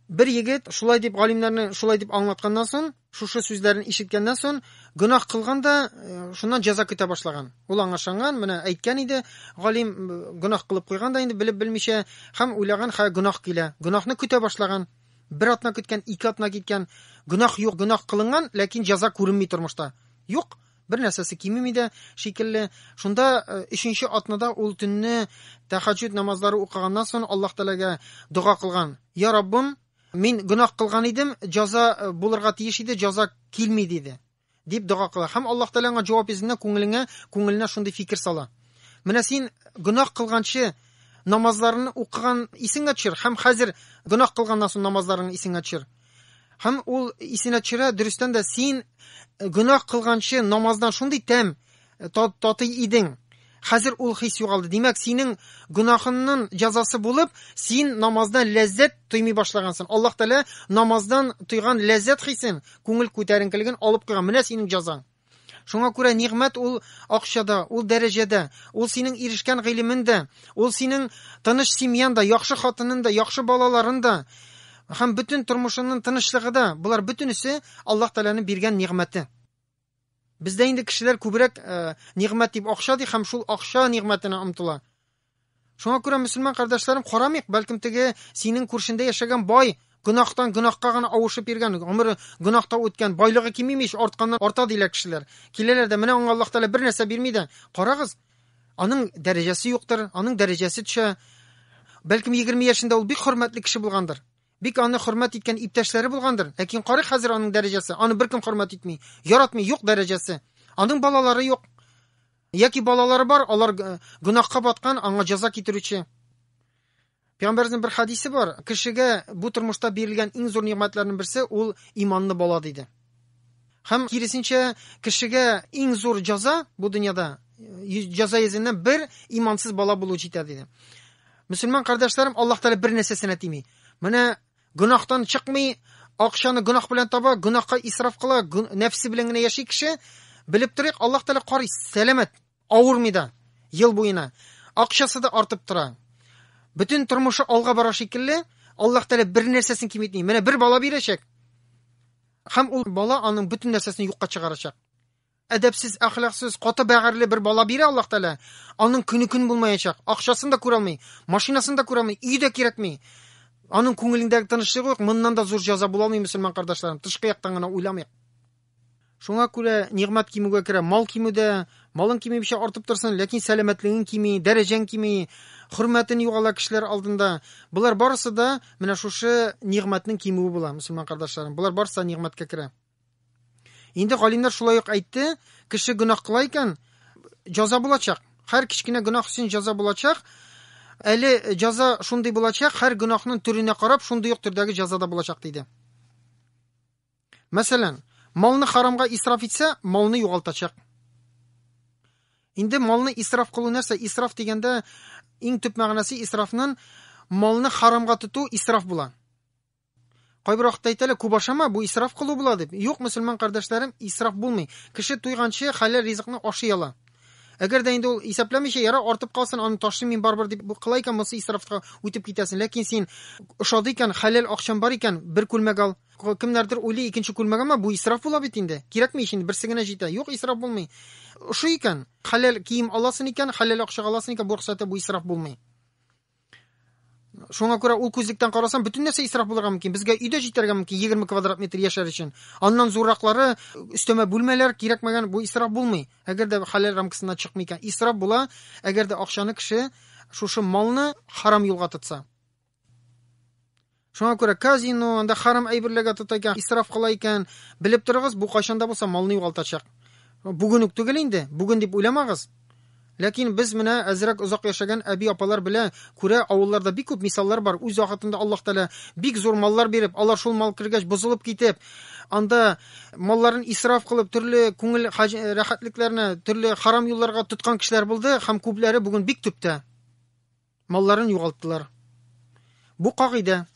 Бер егет шулай дип галимнәрне шулай дип аңлатканнан сон, шушы сүзләрен ишеткәннән сон, гөнаһ кылган да, э, шуннан җәза көтә башлаган. Ул аңа ышанган, менә әйткән иде, галим э, гөнаһ кылып куйган да инде белеп белмичә, һәм уйлаган, хә гөнаһ килә. Гөнаһны көтә башлаган. Бер атна көткән, ике атна киткән, гөнаһ юк, гөнаһ кылынган, ләкин җәза күренми тормышта. Юк, бер нәрсәсе кимеми дә шикелле. Шунда э, өченче атнада ул төнне тәхәҗҗүд намазлары укыганнан соң Аллаһ Тәгаләгә дога кылган. Я Раббым, мин гөнаһ кылган идем, җаза э, булырга тиеш иде, җаза килми диде. Дип дога кыла. Һәм Аллаһ Тәгалә аңа җавап йөзендә күңелеңә, күңеленә шундый фикер сала. Менә син гөнаһ кылганчы намазларны укыган исеңә төшер һәм хәзер гөнаһ кылганнан соң намазларың исеңә төшер. Һәм ул исенә төшерә, дөрестән дә син э, гөнаһ кылганчы намаздан шундый тәм э, татый идең. Хәзер ул хис югалды. Димәк, синең гөнаһыңның җәзасы булып, син намаздан ләззәт тоймый башлагансың. Аллаһ Тәгалә намаздан тойган ләззәт хисен, күңел күтәренкелеген алып куйган. Менә синең җәзаң. Шуңа күрә нигъмәт ул акчада, ул дәрәҗәдә, ул синең ирешкән гыйлемен дә, ул синең тыныч семьян да, яхшы хатынын да, яхшы балаларын да һәм бөтен тормышыңның тынычлыгы да, болар бөтенесе Аллаһ Тәгаләнең биргән нигъмәте. Бездә инде кешеләр күбрәк э, нигъмәт дип акча ди һәм шул акча нигъмәтенә омтыла. Шуңа күрә, мөселман кардәшләрем, карамыйк, бәлкем теге синең күршендә яшәгән бай гөнаһтан гөнаһка гына авышып йөргән, гомере гөнаһта үткән, байлыгы кимими ич, артканнан арта диләр кешеләр. Киләләр дә, менә аңа Аллаһ Тәгалә бер нәрсә бирми дә, карагыз, аның дәрәҗәсе юктыр, аның дәрәҗәсе төшә. Бәлкем 20 яшендә ул бик хөрмәтле кеше булгандыр. Бик аны хөрмәт иткән иптәшләре булгандыр. Ләкин карый хәзер аның дәрәҗәсе, аны беркем хөрмәт итми, яратмый, юк дәрәҗәсе. Аның балалары юк. Яки балалары бар, алар гөнаһка баткан, аңа җәза китерүче. Пәйгамбәрнең бер хадисе бар, кешегә бу тормышта бирелгән иң зур нигъмәтләрнең берсе ул иманлы бала диде. Һәм киресенчә, кешегә иң зур җәза бу дөньяда җәза йөзеннән бер имансыз бала булу җитә диде. Мөселман кардәшләрем, Аллаһ Тәгалә бер нәрсәсенә тими. Менә Гөнаһтан чыкмый, акчаны гөнаһ белән таба, гөнаһка исраф кыла, нәфсе белән генә яши кеше. Белеп торыйк, Аллаһ Тәгалә карый, сәламәт, авырмый да ел буена. Акчасы да артып тора. Бөтен тормышы алга бара шикелле, Аллаһ Тәгалә бер нәрсәсен киметми. Менә бер бала бирәчәк. Һәм ул бала аның бөтен нәрсәсен юкка чыгарачак. Әдәпсез, әхлаксыз, каты бәгырьле бер бала бирә Аллаһ Тәгалә. Аның көне көн булмаячак. Акчасын да күрә алмый, машинасын да күрә алмый, өй дә кирәкми. Аның күңелендәге тынычлык юк. Моннан да зур җәза була алмый, мөселман кардәшләрем. Тышкы яктан гына уйламыйк. Шуңа күрә нигъмәт кимүгә керә. Мал кимүдә, малың кимибичә артып торсын, ләкин сәламәтлегең кими, дәрәҗәң кими, хөрмәтен югала кешеләр алдында. Болар барысы да менә шушы нигъмәтнең кимүе була, мөселман кардәшләрем. Болар барысы да нигъмәткә керә. Инде галимнәр шулай ук әйтте, кеше гөнаһ кыла икән, җаза булачак. Һәр кечкенә гөнаһ өчен җаза булачак. Әле җаза шундый булачак, һәр гөнаһның төренә карап, шундый ук төрдәге җаза да булачак диде. Мәсәлән, малны харамга исраф итсә, малны югалтачак. Инде малны исраф кылу нәрсә? Исраф дигәндә иң төп мәгънәсе исрафның малны харамга тоту исраф була. Кайбер вакытта әйтәләр, күп ашама, бу исраф кылу була дип. Юк, мөселман кардәшләрем, исраф булмый. Кеше туйганчы хәләл ризыкны ашый ала. Әгәр дә инде ул исәпләмичә, яра артып калсын, аны ташлыйм мин барыбер дип кыла икән, монысы исрафка үтеп китәсен. Ләкин син ошады икән, хәләл акчам бар икән, бер күлмәк ал. Кемнәрдер уйлый, икенче күлмәк алма, бу исраф була бит инде. Кирәкми ич инде, берсе генә җитә. Юк, исраф булмый. Ошый икән, хәләл кием аласын икән, хәләл акчага аласын икән, бу рөхсәте бу исраф булмый. Шуңа күрә ул күзлектән карасам, бөтен нәрсә исраф булырга мөмкин. Безгә өйдә җитәргә мөмкин 20 квадрат метр яшәр өчен. Аннан зурраклары, өстәмә бүлмәләр кирәкмәгән, бу исраф булмый. Әгәр дә халал рамкасыннан чыкмый икән, исраф була, әгәр дә акчаны кеше шушы малны харам юлга тотса. Шуңа күрә казино, анда харам әйберләргә тота икән, исраф кыла икән. Белеп торыгыз, бу кайчан да булса малны югалтачак. Бүген үк түгел инде, бүген дип уйламагыз. Ләкин без менә әзрәк озак яшәгән әби-апалар белә, күрә, авылларда бик күп мисаллар бар, үз вакытында Аллаһ Тәгалә бик зур маллар биреп, алар шул мал кергәч бозылып китеп, анда малларын исраф кылып, төрле күңел рәхәтлекләренә, төрле харам юлларга тоткан кешеләр булды һәм күпләре бүген бик төптә. малларын югалттылар. Бу кагыйдә.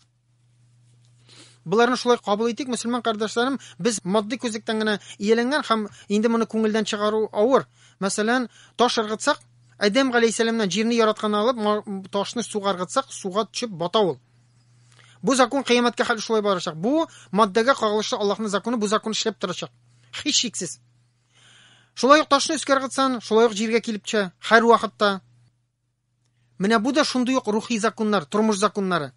Боларны шулай кабул итик, мөселман кардәшләрем, без матди күзлектән генә ияләнгән һәм инде моны күңелдән чыгару авыр. Мәсәлән, таш ыргытсак, Адәм галәйһиссәламнән җирне яраткан алып, ташны суга ыргытсак, суга төшеп бата ул. Бу закон кыямәткә хәл шулай барачак. Бу маддәгә кагылышлы Аллаһның законы, бу закон эшләп торачак. Һич шиксез. Шулай ук ташны өскә ыргытсан, шулай ук җиргә килеп төшә, һәр вакытта. Менә бу да шундый ук рухи законнар, тормыш законнары.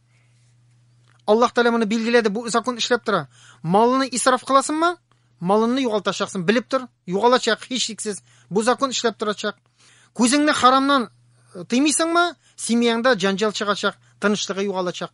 Аллаһ Тәгалә моны билгеләде, бу закон эшләп тора. Малны исраф кыласыңмы? Малыңны югалтачаксың, белеп тор, югалачак һичшиксез. Бу закон эшләп торачак. Күзеңне харамнан э, тыймыйсыңмы? Семьяңда җанҗал чыгачак, тынычлыгы югалачак.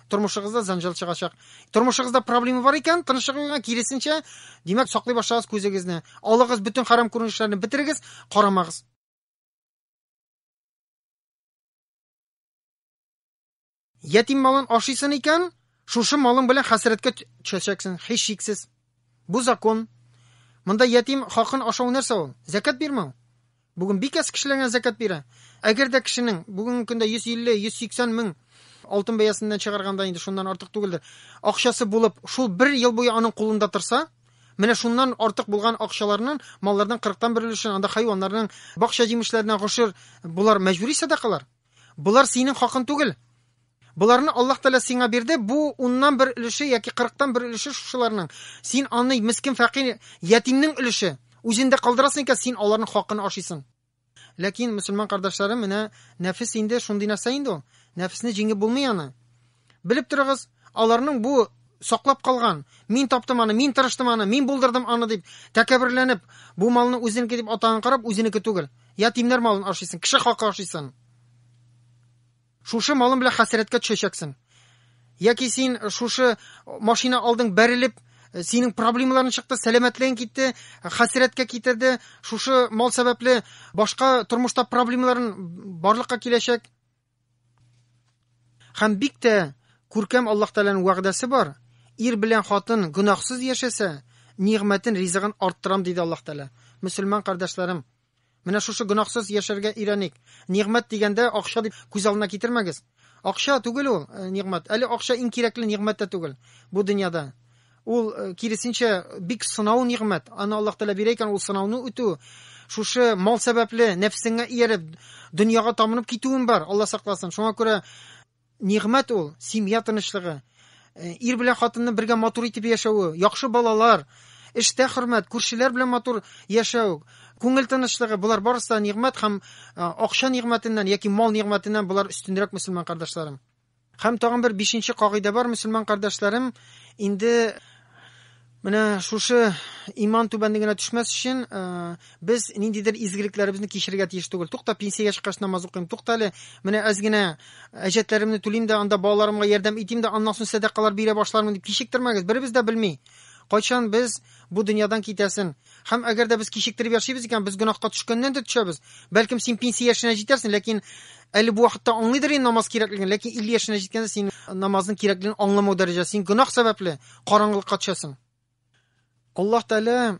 тормышыгызда занжал чыгачак тормышыгызда проблема бар икән тынычлыгыгызга киресенчә димәк саклый башлагыз күзегезне алыгыз бөтен харам күренешләрне бетерегез карамагыз ятим малын ашыйсын икән шушы малың белән хәсрәткә төшәчәксең һич шиксез бу закон монда ятим хакын ашау нәрсә ул зәкәт бирмәү Бүген бик әз кешеләргә зәкят бирә. Әгәр дә кешенең бүгенге көндә 150-180 мең алтын бәясеннән чыгарганда инде шуннан артык түгелдер. Акчасы булып, шул бер ел буе аның кулында торса, Менә шуннан артык булган акчаларның маллардан 40 тан бер өлешен анда хайваннарның, бакча җимешләренә гошер, болар мәҗбүри сәдакалар. Болар синең хакын түгел. Боларны Аллаһ Тәгалә сиңа бирде. Бу уннан бер өлеше яки кырыктан бер өлеше шушыларның. Син аны мискин фәкыйр ятимнең өлеше. Үзендә калдырасың икән, син аларның хакын ашыйсың. Ләкин мусульман кардәшләрем, менә нәфес инде шундый нәрсә инде ул. Нәфесне җиңеп булмый аны. Белеп торыгыз, аларның бу саклап калган, мин таптым аны, мин тырыштым аны, мин булдырдым аны дип тәкәберләнеп, бу малны үзенеке дип атаган карап, үзенеке түгел. Ятимнәр малын ашыйсын, кеше хакы ашыйсын. Шушы малым белән хәсрәткә төшәчәксең. Яки син шушы машина алдың бәрелеп, синең проблемаларың чыкты, сәламәтлегең китте, хәсрәткә китерде. Шушы мал сәбәпле башка тормышта проблемаларын барлыкка киләчәк. Хәм бик тә күркәм Аллаһ Тәгаләнең вәгъдәсе бар. Ир белән хатын гөнаһсыз яшәсә, нигъмәтен, ризыгын арттырам, диде Аллаһ Тәгалә. Мөселман кардәшләрем, менә шушы гөнаһсыз яшәргә өйрәник. Нигъмәт дигәндә акча дип күз алдына китермәгез. Акча түгел ул э, нигъмәт. Әле акча иң кирәкле нигъмәт тә түгел бу дөньяда. Ул, киресенчә, бик сынау нигъмәт. Аны Аллаһ Тәгалә бирә икән, ул сынауны үтү. Шушы мал сәбәпле нәфсеңә ияреп, дөньяга тамынып китүем бар, Аллаһ сакласын. Шуңа күрә нигъмәт ул, семья тынычлыгы. Э, ир белән хатынны бергә матур итеп яшәве, яхшы балалар, эштә хөрмәт, күршеләр белән матур яшәү, күңел тынычлыгы, булар барысы да нигъмәт һәм э, акча нигъмәтеннән яки мал нигъмәтеннән булар өстенрәк мөселман кардәшләрем. Һәм тагын бер бишенче кагыйдә бар, мөселман кардәшләрем, инде менә шушы иман түбәнлегенә төшмәс өчен, без ниндидер изгелекләребезне кичерергә тиеш түгел. Тукта, пенсиягә чыккач намаз укыйм. Тукта әле, менә әз генә әҗәтләремне түлим дә, анда балаларымга ярдәм итим дә, аннан соң сәдакалар бирә башлармын дип кичектермәгез. Беребез дә белми. Кайчан без Бу дөньядан китәсен. Һәм әгәр дә без кичектереп яшибез икән, без гөнаһка төшкәннән дә төшәбез. Бәлкем син пенсия яшенә җитәрсең, ләкин әле бу вакытта аңлыйдыр инде намаз кирәклеген, ләкин 50 яшенә җиткәндә син намазның кирәклеген аңламау дәрәҗә, син гөнаһ сәбәпле караңгылыкка төшәсең. Аллаһ Тәгалә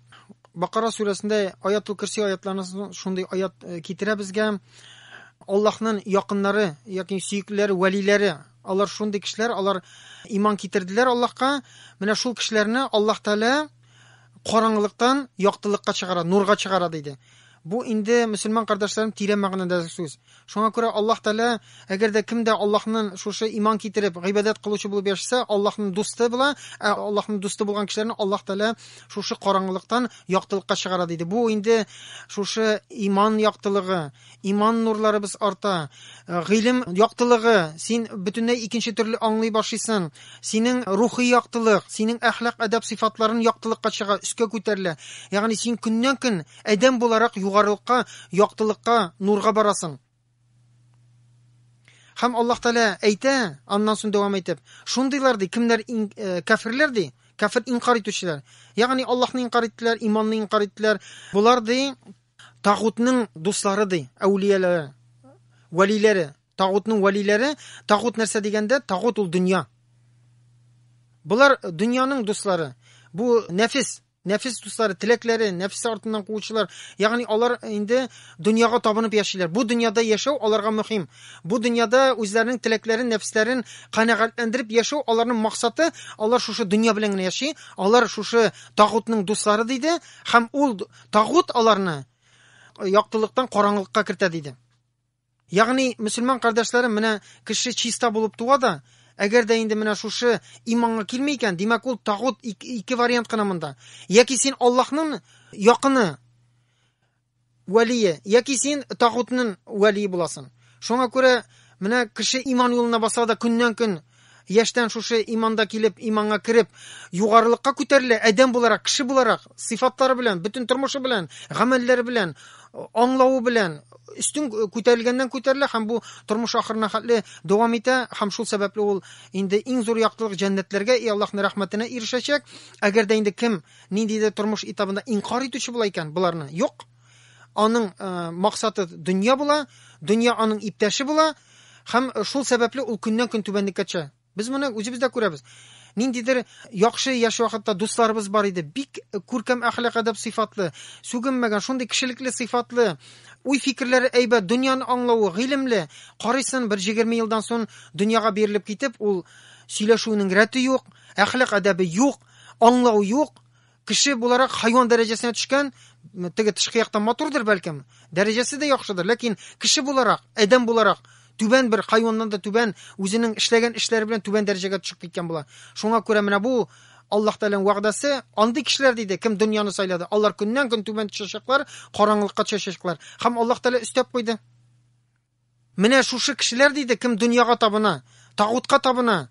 Бакара сүрәсендә Аятул Кирси аятларында шундый аят э, китерә безгә. Аллаһның якыннары, яки сөеклеләре, вәлиләре Алар шундый кешеләр, алар иман китерделәр Аллаһка. Менә шул кешеләрне Аллаһ Тәгалә караңгылыктан яктылыкка чыгара, нурга чыгара диде. Бу инде мөселман кардәшләрем тирән мәгънәдә сүз. Шуңа күрә Аллаһ Тәгалә, әгәр дә кемдә Аллаһның шушы иман китереп, гыйбадәт кылучы булып яшәсә, Аллаһның дусты була, ә Аллаһның дусты булган кешеләрне Аллаһ Тәгалә шушы караңгылыктан яктылыкка чыгара диде. Бу инде шушы иман яктылыгы, Иман нурларыбыз арта, э, гыйлем яктылыгы, син бөтенләй икенче төрле аңлый башлыйсың. Синең рухи яктылык, синең әхлак әдәп сыйфатларын яктылыкка чыга, өскә күтәрелә. Ягъни син көннән-көн адәм буларак югарылыкка, яктылыкка, нурга барасың. Һәм Аллаһ Тәгалә әйтә, аннан соң дәвам итеп, шундыйлар ди, кемнәр э, кафирләр ди, кафир инкар итүчеләр. Ягъни Аллаһны инкар иттеләр, иманны инкар иттеләр. Булар ди, Тагутның дуслары ди, әүлияләре, вәлиләре. Тагутның вәлиләре, тагут нәрсә дигәндә, тагут ул дөнья. Болар дөньяның дуслары. Бу нәфис, нәфис дуслары, теләкләре, нәфис артыннан куучылар. Ягъни алар инде дөньяга табынып яшиләр. Бу дөньяда яшәү аларга мөһим. Бу дөньяда үзләренең теләкләрен, нәфисләрен канәгатьләндереп яшәү аларның максаты. Алар шушы дөнья белән генә яши. Алар шушы тагутның дуслары диде һәм ул Тагут аларны яктылыктан караңгылыкка кертә диде. Ягъни, мөселман кардәшләрем, менә кеше чиста булып туа да, әгәр дә инде менә шушы иманга килми икән, димәк ул тагут ике вариант кына монда. Яки син Аллаһның якыны вәлие, яки син тагутның вәлие буласың. Шуңа күрә менә кеше иман юлына баса да көннән көн Яшьтән шушы иманда килеп, иманга кереп, югарылыкка күтәрелә, адәм буларак, кеше буларак, сыйфатлары белән, бөтен тормышы белән, гамәлләре белән, аңлавы белән өстен күтәрелгәннән күтәрелә һәм бу тормыш ахырына хәтле дәвам итә һәм шул сәбәпле ул инде иң зур яктылык җәннәтләргә и Аллаһның рәхмәтенә ирешәчәк. Әгәр дә инде кем ниндидер тормыш этабында инкар итүче була икән, буларны юк. Аның э, максаты дөнья була, дөнья аның иптәше була, һәм шул сәбәпле ул көннән көн түбәнлеккә төшә. Без моны үзебез дә күрәбез. Ниндидер яхшы яшь вакытта дусларыбыз бар иде, бик күркәм әхлак әдәп сыйфатлы, сүгенмәгән, шундый кешелекле сыйфатлы, уй фикерләре әйбәт, дөньяны аңлавы, гыйлемле. Карыйсын бер 20 елдан соң дөньяга бирелеп китеп, ул сөйләшүнең рәте юк, әхлак әдәбе юк, аңлау юк, кеше буларак хайван дәрәҗәсенә төшкән теге тышкы яктан матурдыр бәлкем дәрәҗәсе дә яхшыдыр ләкин кеше буларак адәм буларак түбән бер хайваннан да түбән үзенең эшләгән эшләре белән түбән дәрәҗәгә төшеп киткән була шуңа күрә менә бу аллаһ тәгаләнең вәгъдәсе андый кешеләр диде кем дөньяны сайлады алар көннән көн түбән төшәчәкләр караңгылыкка төшәчәкләр һәм аллаһ тәгалә өстәп куйды Менә шушы кешеләр диде, кем дөньяга табына, тагутка табына,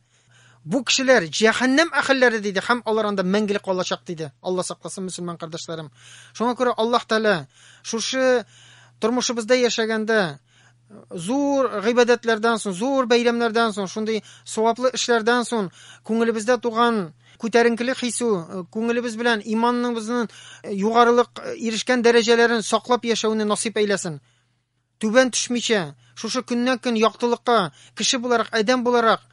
бу кешеләр җәһәннәм әһелләре диде һәм алар анда мәңгелек калачак диде. Алла сакласын, мөселман кардәшләрем. Шуңа күрә Аллаһ Тәгалә шушы тормышыбызда яшәгәндә зур гыйбадәтләрдән соң, зур бәйрәмнәрдән соң, шундый саваплы эшләрдән соң күңелебездә туган күтәренкелек хису, э, күңелебез белән иманыбызның э, югарылык э, ирешкән дәрәҗәләрен саклап яшәүне насыйп әйләсен. Түбән төшмичә, шушы көннән-көн яктылыкка, кеше буларак, адәм буларак,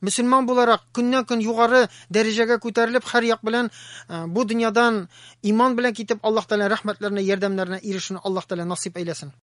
мөселман буларак көннән-көн югары дәрәҗәгә күтәрелеп, һәр як белән э, бу дөньядан иман белән китеп, Аллаһ Тәгалә рәхмәтләренә, ярдәмнәренә ирешүне Аллаһ Тәгалә насыйп әйләсен.